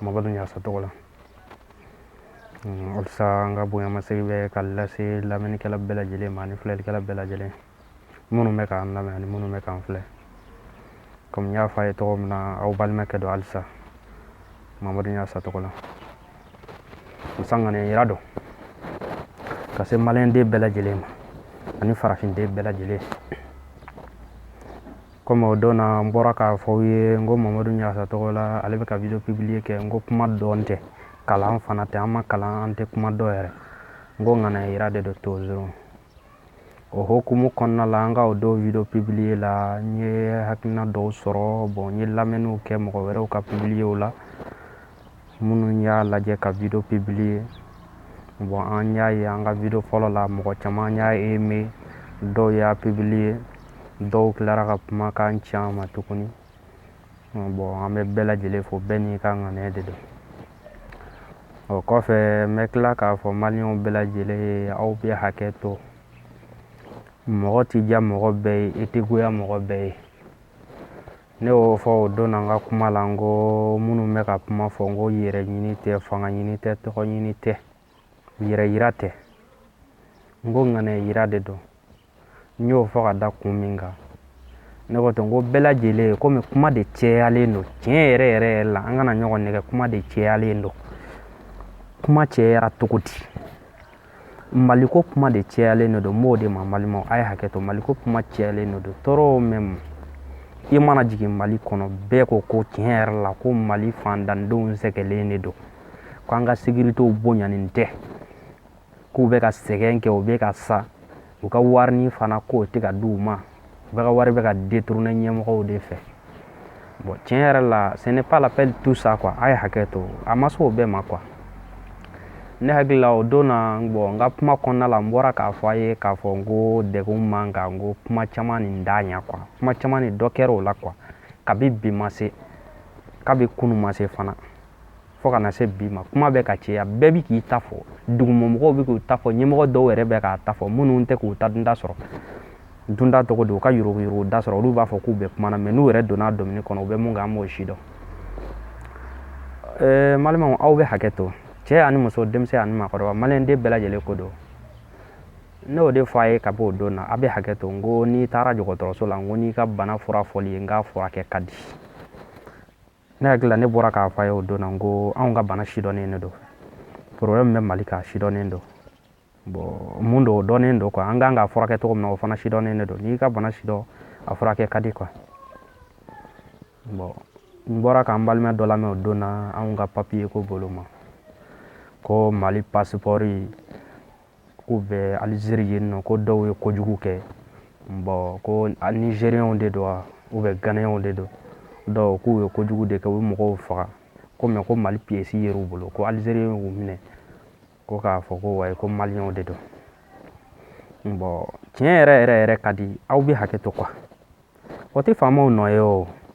Mamadu Ɲagasa tɔgɔ la halisa hmm, an ka bonyamasegin bɛ ka lase lamɛnnikɛla bɛɛ lajɛlen ma ani filɛlikɛla bɛɛ lajɛlen minnu bɛ k'an lamɛn ani minnu bɛ k'an filɛ komi n y'a fɔ a ye tɔgɔ min na aw balimakɛ don halisa Mamadu Ɲagasa tɔgɔ la halisa ŋaniya yira don ka se maliyɛnden bɛɛ lajɛlen ma ani farafinden bɛɛ lajɛlen Comme o don na n bɔra k'a fɔ aw ye n ko Mamadu Ɲagasa tɔgɔ la ale bɛ ka video publier kɛ n ko kuma dɔn tɛ kalan fana tɛ an ma kalan an tɛ kuma dɔn yɛrɛ n ko ŋaniya yira de don toujours o hokumu kɔnɔna la n ka o don video publier la n ye hakilina dɔw sɔrɔ bon n ye lamɛnniw kɛ mɔgɔ wɛrɛw ka publierw la minnu y'a lajɛ ka video publier bon an y'a ye an ka video fɔlɔ la mɔgɔ caman y'a aimer dɔw y'a publier dɔw tilara ka kumakan ci an ma tuguni bon an bɛ bɛɛ lajɛlen fo bɛɛ n'i ka ŋaniya de don o kɔfɛ n bɛ tila k'a fɔ maliyɛnw bɛɛ lajɛlen ye aw bɛ hakɛ to mɔgɔ tɛ diya mɔgɔ bɛɛ ye i tɛ goya mɔgɔ bɛɛ ye Ne y'o fɔ o don na n ka kuma la n ko minnu bɛ ka kuma fɔ n ko yɛrɛ ɲini tɛ fanga ɲini tɛ tɔgɔ ɲini tɛ yɛrɛ yira tɛ n ko ŋaniya yira de don n y'o fɔ ka da kun min kan ne ko ten ko bɛɛ lajɛlen komi kuma de cɛyalen don tiɲɛ yɛrɛ yɛrɛ yɛrɛ la an kana ɲɔgɔn nɛgɛn kuma de cɛyalen don kuma cɛyara cogo di maliko kuma de cɛyalen de don n b'o de ma balimaw a ye hakɛ to maliko kuma cɛyalen de don trop même i mana jigin mali kɔnɔ bɛɛ ko ko tiɲɛ yɛrɛ la ko mali faantandenw sɛgɛnnen de don k'an ka sécuritéw bonyanen tɛ k'u bɛ ka sɛgɛn kɛ u bɛ ka sa u ka warinin fana k'o tɛ ka di u ma bɛɛ ka wari bɛ ka détourner ɲɛmɔgɔw de fɛ bon tiɲɛ yɛrɛ la ce n'est pas la peine tout ça quoi a ye hakɛ to a ma se o bɛɛ ma quoi ne hakili la o don na bon n ka kuma kɔnɔna la n bɔra k'a fɔ a ye k'a fɔ n ko degun man kan n ko kuma caman nin d'a ɲɛ quoi kuma caman nin dɔ kɛra o la quoi kabi bi ma se kabi kunu ma se fana fo ka na se bi ma kuma bɛ ka cɛya bɛɛ bɛ k'i ta fɔ dugumamɔgɔw bɛ k'u ta fɔ ɲɛmɔgɔ dɔw yɛrɛ bɛ k'a ta fɔ minnu tɛ k'u ta dunda sɔrɔ dunda tɔgɔ don u ka yuruguyurugu da sɔrɔ olu b'a fɔ k'u bɛ kuma na mais n'u yɛrɛ donna domini kɔnɔ u bɛ mun kan an b'o si dɔn ɛɛ balimaw aw bɛ hakɛ to cɛ ani muso denmisɛn ani maakɔrɔba maliyɛn den bɛɛ lajɛlen ko don ne y'o de fɔ a ye ka bɔ o don na a bɛ hakɛ to n ko n'i taara dɔgɔtɔrɔso la n ko n'i ka bana fura fɔl'i ye n k'a furakɛ ka di ne hakili la ne bɔra k'a fɔ a ye o don na ko anw ka bana sidɔnnen de don problème min bɛ mali kan a sidɔnnen don bɔn mun don o dɔnnen don kuwa an ka kan k'a furakɛ cogo min na o fana sidɔnnen de don n'i y'i ka bana sidɔn a furakɛ ka di kuwa bɔn n bɔra k'an balima dɔ lamɛn o don na anw ka papiye ko bolo ma ko mali pasipɔri K'u bɛ alizeri yen nɔ ko dɔw ye kojugu kɛ bɔn ko nizeriyaw de don wa ou bien ganayaw de don k'u ye kojugu de kɛ u bɛ mɔgɔw faga ko mɛ ko mali piyɛsi yera u bolo ko alizeri y'u minɛ ko k'a fɔ ko wayi ko maliyɛnw de don bɔn tiɲɛ yɛrɛ yɛrɛ yɛrɛ ka di aw bɛ hakɛ to kuwa o tɛ faamaw nɔ ye o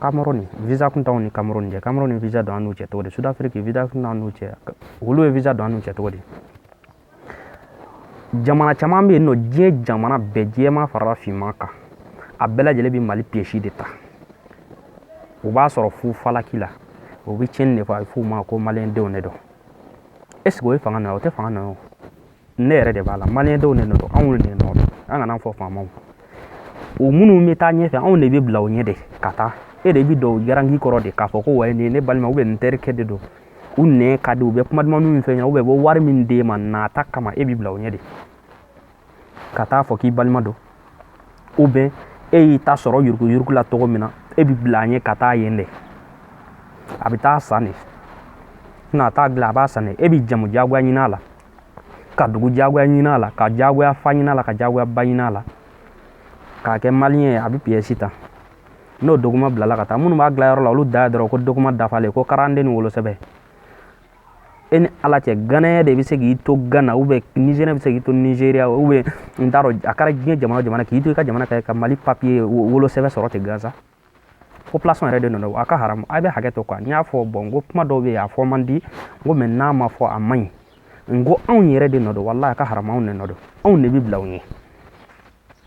Cameroun visa kun t'anw ni Cameroun cɛ Cameroun visa don an n'u cɛ cogo di Sud-Afrique visa kun t'anw n'u cɛ olu ye visa don an n'u cɛ cogo di jamana caman bɛ yen nɔ diɲɛ jamana bɛɛ jɛman farala finman kan a bɛɛ lajɛlen bɛ mali pièce de ta u b'a sɔrɔ fu falaki la u bɛ tiɲɛni de fɔ a bɛ f'u ma ko maliyɛndenw de don est ce que o ye fanga nɔ ye o tɛ fanga nɔ ye o ne yɛrɛ de b'a la maliyɛndenw de don anw de nɔ don an kana fɔ faamaw o minnu bɛ taa ɲɛfɛ anw de bɛ bila o ɲɛ de ka taa e de bɛ don o garanti kɔrɔ de k'a fɔ ko wayi nin ne balima ou bien n terikɛ de don u nɛn ka di u bɛ kuma duman min f'e ɲɛ ou bien u bɛ wari min d'e ma nata kama e bɛ bila o ɲɛ de ka taa fɔ k'i balima don ou bien e y'i ta sɔrɔ yuruku yuruku la cogo min na e bɛ bila a ɲɛ ka taa yen de a bɛ t'a san de n'a t'a dilan a b'a san de e bɛ jamu jagoya ɲini a la ka dugu jagoya ɲinin a la ka jagoya fa ɲinin a la ka jagoya ba ɲinin a la k'a kɛ maliyɛn ye a bɛ piyɛsi ta n'o document bilala ka taa minnu b'a dilayɔrɔ la olu ta ye dɔrɔn ko document dafalen ko karanden ni wolosɛbɛn e ni ala cɛ ganaya de bɛ se k'i to gana ou bien nizeriya bɛ se k'i to nizeriya ou bien n t'a dɔn a kɛra diɲɛ jamana o jamana k'i to i ka jamana kan ka mali papiye wolosɛbɛn sɔrɔ ten gansan population yɛrɛ de nɔ a ka haramu a bɛ hakɛ to quoi n y'a fɔ bɔn n ko kuma dɔw bɛ yen a fɔ man di n ko mɛ n'a ma fɔ a man ɲi n ko anw yɛrɛ de nɔ don walahi a ka haramu anw de nɔ don anw de bɛ bila u ɲɛ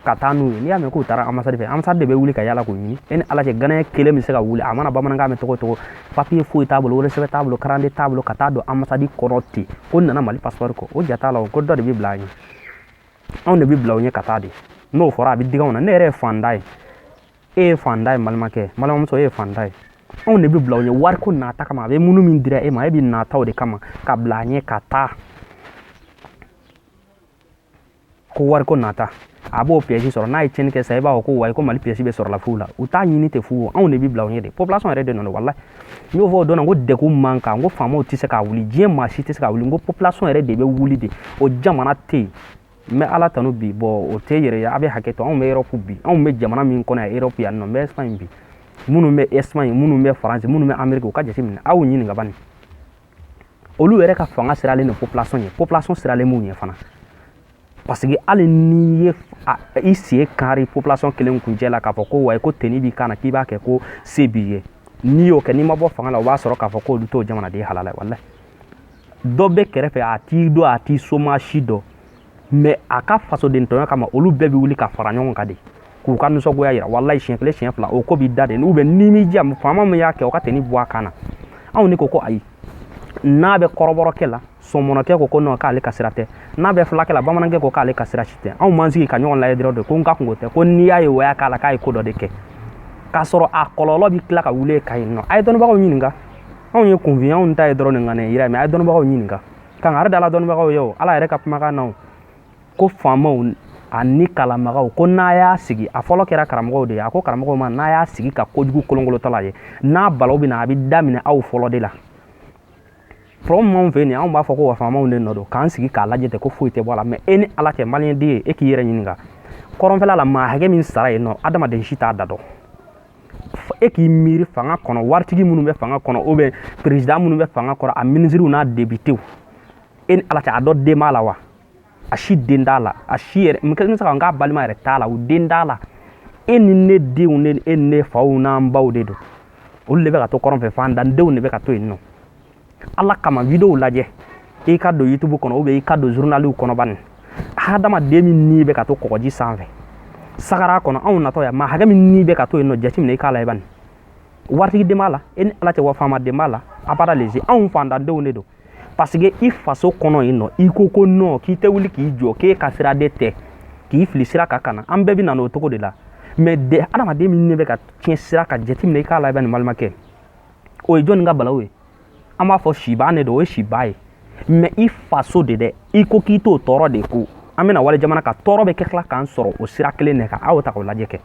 ka taa n'u ye n'i y'a mɛn k'u taara amasadi fɛ amasadi de bɛ wuli ka yala k'u ɲini e ni ala cɛ ganaya kelen bɛ se ka wuli a mana bamanankan mɛn cogo o cogo papiye foyi t'a bolo wolosɛbɛn t'a bolo karande t'a bolo ka taa don amasadi kɔnɔ ten ko nana mali pasipɔri kɔ o ja t'a la o ko dɔ de bɛ bila a ɲɛ anw de bɛ bila u ɲɛ ka taa de n'o fɔra a bɛ digi anw na ne yɛrɛ ye faantan ye e ye faantan ye balimakɛ balimamuso e ye faantan ye anw de bɛ bila u ɲɛ wariko nata kama a bɛ minnu min dira e ma e bɛ nata o de kama ka bila a ɲɛ ka taa ko wariko nata a b'o pièce sɔrɔ n'a ye tiɲɛni kɛ sa i b'a fɔ ko wayi ko mali pièce bɛ sɔrɔla fu la u t'a ɲini ten fu anw de bɛ bila u ɲɛ de population yɛrɛ de nɔ don walayi n y'o fɔ o don ko degun man kan ko faamaw tɛ se ka wuli diɲɛ maa si tɛ se ka wuli n ko population yɛrɛ de bɛ wuli de o jamana tɛ yen n bɛ ala tanu bi bon o tɛ yɛrɛ ye a bɛ hakɛ to anw bɛ Europe bi anw bɛ jamana min kɔnɔ yan Europe yan nɔ n bɛ Espagne bi minnu bɛ Espagne minnu bɛ faransi minnu bɛ ameriki u ka jateminɛ aw ɲininka ban olu yɛrɛ ka fanga siralen don population ɲɛ population siralen b'u ɲɛ fana parce que hali n'i ye i sen kari population kelen kuncɛ la k'a fɔ ko wa ko tenue b'i kan na k'i b'a kɛ ko se b'i ye n'i y'o kɛ n'i ma bɔ fanga la o b'a sɔrɔ k'a fɔ k'olu t'o jamanaden halala wala dɔ bɛ kɛrɛfɛ a t'i dɔn a t'i soma si dɔn mɛ a ka fasoden tɔɲɔ kama olu bɛɛ bɛ wuli ka fara ɲɔgɔn kan de k'u ka nisɔngoya yira walayi siɲɛ kelen siɲɛ fila o ko b'i da de ubiyɛn n'i m'i diya faama min y'a kɛ o ka tenue bɔ a kan na anw ne ko ko ayi n'a bɛ kɔrɔbɔrɔkɛ la sɔmɔnɔkɛ ko ko non k'ale ka sira tɛ n'a bɛ fulakɛ la bamanankɛ ko k'ale ka sira si tɛ anw b'an sigi ka ɲɔgɔn lajɛ dɔrɔn de ko n ka kunko tɛ ko n'i y'a ye o y'a k'a la k'a ye ko dɔ de kɛ k'a sɔrɔ a kɔlɔlɔ bɛ tila ka wuli ka yen nɔ a ye dɔnnibagaw ɲininka anw ye kunfin anw ta ye dɔrɔn nin ŋaniya yira mɛ a ye dɔnnibagaw ɲininka kan yɛrɛ dala dɔnnibagaw ye o ala yɛrɛ ka kumakan na ko faamaw ani kalanbagaw ko n'a y'a sigi a fɔlɔ kɛra karamɔgɔw de ye a ko karamɔgɔw ma n'a y'a sigi ka kojugu kolonkolotɔla ye n'a balaw bɛ na a bɛ daminɛ aw fɔlɔ de la problème b'anw fɛ yen anw b'a fɔ ko wa faamaw de nɔ don k'an sigi k'a lajɛ ten ko foyi tɛ bɔ a la mɛ e ni ala cɛ maliyɛnden ye e k'i yɛrɛ ɲininka kɔrɔnfɛla la maa hakɛ min sara yen nɔ adamaden si t'a da dɔn e k'i miiri fanga kɔnɔ waritigi minnu bɛ fanga kɔnɔ ubiyɛn peresidan minnu bɛ fanga kɔnɔ a minisiriw n'a depitew e ni ala cɛ a dɔ den b'a la wa a si den t'a la a si yɛrɛ n bɛ se ka n k'a balima yɛrɛ t'a la u den t'a la e ni ne denw ne e ni ne faw n'an baw de don olu de bɛ ka to kɔrɔn fɛ fantandenw de bɛ ka to yen nɔ ala kama videow lajɛ i ka don youtube kɔnɔ ubiyɛn i ka don zurunaliw kɔnɔ bani hadamaden min ni bɛ ka to kɔgɔji sanfɛ sahara kɔnɔ anw natɔ yan maa hakɛ min ni bɛ ka to yen nɔ jateminɛ i k'a lajɛ bani waritigi den b'a la e ni ala cɛ wa faama den b'a la abada lezi anw fantandenw de don parce que i faso kɔnɔ yen nɔ i ko ko non k'i tɛ wuli k'i jɔ k'e ka sira de tɛ k'i fili sira kan ka na an bɛɛ bɛ na n'o cogo de la mɛ de adamaden min ni bɛ ka tiɲɛ sira kan jateminɛ i k'a lajɛ bani n balimakɛ o ye jɔnni ka balawu ye an b'a fɔ siba de don o ye siba ye mɛ i faso de dɛ i ko k'i t'o tɔɔrɔ de ko an bɛna wali jamana kan tɔɔrɔ bɛ ka tila k'an sɔrɔ o sira kelen de kan aw ta k'o lajɛ kɛ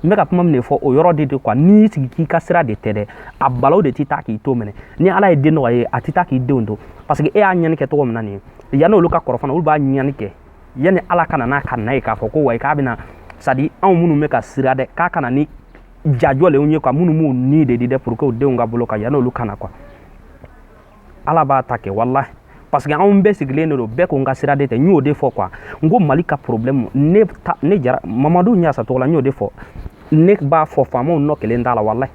n bɛ ka kuma min de fɔ o yɔrɔ de de kuwa n'i sigi k'i ka sira de tɛ dɛ a balaw de tɛ taa k'i to même ni ala ye den nɔgɔya ye a tɛ taa k'i denw to parce que e y'a ɲani kɛ cogo min na nin ye yanni olu ka kɔrɔ fana olu b'a ɲani kɛ yanni ala ka na n'a ka na ye k'a fɔ ko wa k'a bɛna c'est-à-dire anw minnu bɛ ka sira dɛ k'a kana ni jajɔlenw ye kuwa minnu b'u ni de di dɛ pour que u denw ka bolo kan yanni olu ka na kuwa ala b'a ta kɛ walahi parce que anw bɛɛ sigilen de don bɛɛ ko n ka sira de tɛ n y'o de fɔ kuwa n ko mali ka problème ne ta ne jara mamadu ɲasa tɔgɔ la n y'o de fɔ ne b'a fɔ faamaw nɔ kelen t'a la walahi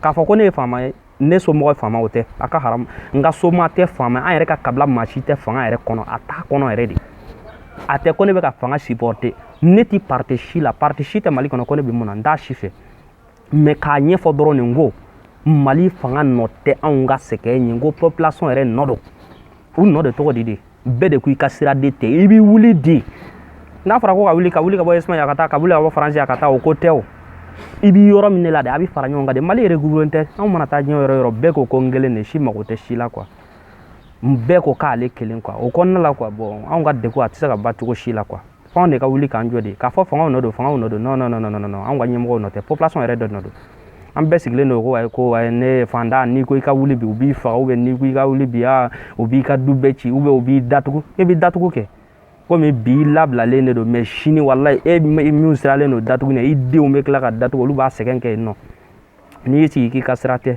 k'a fɔ ko ne ye faama ye ne somɔgɔ faamaw tɛ a ka haram n ka somaa tɛ faama an yɛrɛ ka kabila maa si tɛ fanga yɛrɛ kɔnɔ a t'a kɔnɔ yɛrɛ de a tɛ ko ne bɛ ka fanga supporter ne ti parti si la parti si tɛ mali kɔnɔ ko ne bɛ mun na n t'a si fɛ mais k'a ɲɛfɔ dɔrɔn nin ko mali fanga nɔ tɛ anw ka sɛgɛn ye ko population yɛrɛ nɔ don u nɔ de tɔgɔ di de bɛɛ de ko i ka sira de tɛ i bɛ wuli di n'a fɔra ko ka wuli ka wuli ka bɔ espagne ka taa ka wuli ka bɔ faransi yan ka taa o ko tɛ o i bɛ yɔrɔ min de la de a bɛ fara ɲɔgɔn kan de mali yɛrɛ gugulen tɛ anw mana taa diɲɛ yɔrɔ yɔrɔ bɛɛ ko ko n kelen de si mago tɛ si la quoi bɛɛ ko k'ale kelen quoi o kɔnɔna la quoi bon anw ka degun a tɛ se ka ban cogo si la quoi f'anw de ka wuli k'an jɔ de k'a fɔ fangaw nɔ don fangaw nɔ don non non non non non an ka ɲɛmɔgɔw nɔ tɛ population yɛrɛ de nɔ don an bɛɛ sigilen don ko ayi ko ayi ne faantan n'i ko i ka wuli bi u b'i faga ou bien n'i ko i ka wuli bi aa u b'i ka du bɛɛ ci ou bien u b'i datugu e b'i datugu kɛ komi bi i labilalen de don mais sini walayi e min siralen don datugu ɲɛ i denw bɛ tila ka datugu olu b'a sɛgɛn kɛ yen nɔ n'i y'i sigi k'i ka sira tɛ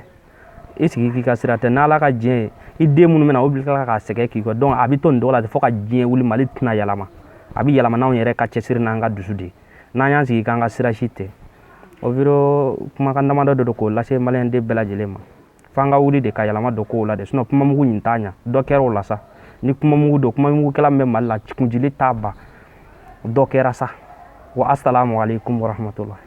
i sigi k'i ka sira tɛ n'ala ka diɲɛ ye i den minnu bɛ na olu bɛ tila k'a sɛgɛn k'i kɔ donc a bɛ to nin cogo la fo ka diɲɛ wuli mali tɛna yɛlɛma a bɛ yɛlɛma n'anw yɛrɛ ka cɛsiri n'an ka dusu de n'an y'an sigi k'an ka sira si tɛ o video kumakan damadɔ de don k'o lase maliyɛnden bɛɛ lajɛlen ma f'an ka wuli de ka yɛlɛma don kow la de sinon kumamugu nin t'a ɲa dɔ kɛra o la sa ni kumamugu don kumamugukɛla min bɛ mali la kunjili t'a ban dɔ kɛra sa wa asalamu aleykum warahmatulahi